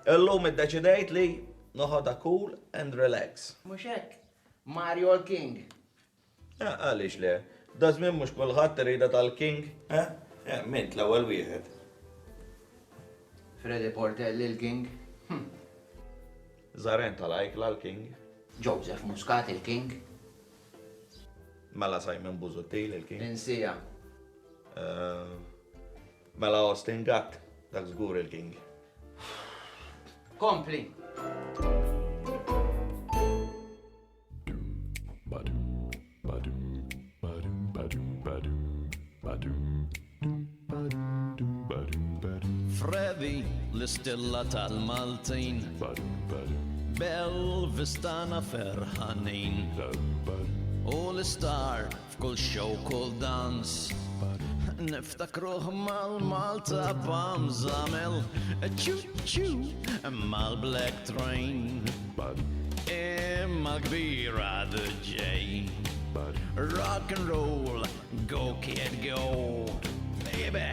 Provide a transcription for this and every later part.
Illum iddeċidejt li noħodha cool and relax. Mhux hekk? Mario l-King. Eh, għaliex le? Dażmien mhux kulħadd irida tal-King, eh? eh mint l-ewwel wieħed. Freddy Portelli l-King. Hm. Zaren tal-Ajkla l-King. Joseph Muscat il-King. Mela Simon Buzuttil il-King. Insija. Eh, Mela Austin Gatt, dak żgur il-king. Kompli. Freddy, l-istilla tal-Maltin. Bell vistana ferħanin. U l-istar F'kull show, kull dans, niftakruh mal-Malta bam zamel, ċu ċu, mal-Black Train, imma kbira the J. Rock and roll, go kid go, baby.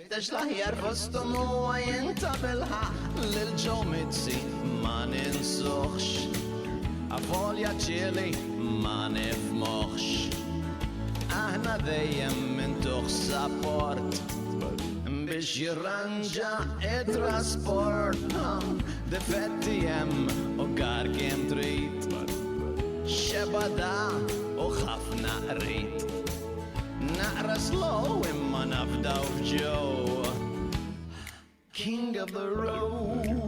Għax l-aħjar kostum huwa jien ta' bilħaq lil Joe Mizzi ma ninsuħx. Avolja ċieli ma nifmuħx. Aħna dejjem minn tuħ sapport biex jirranġa it-trasport Difetti jem u gar kem trit Xebada u ħafna qrit Naqra slow imma nafdaw f'Joe. King of the road.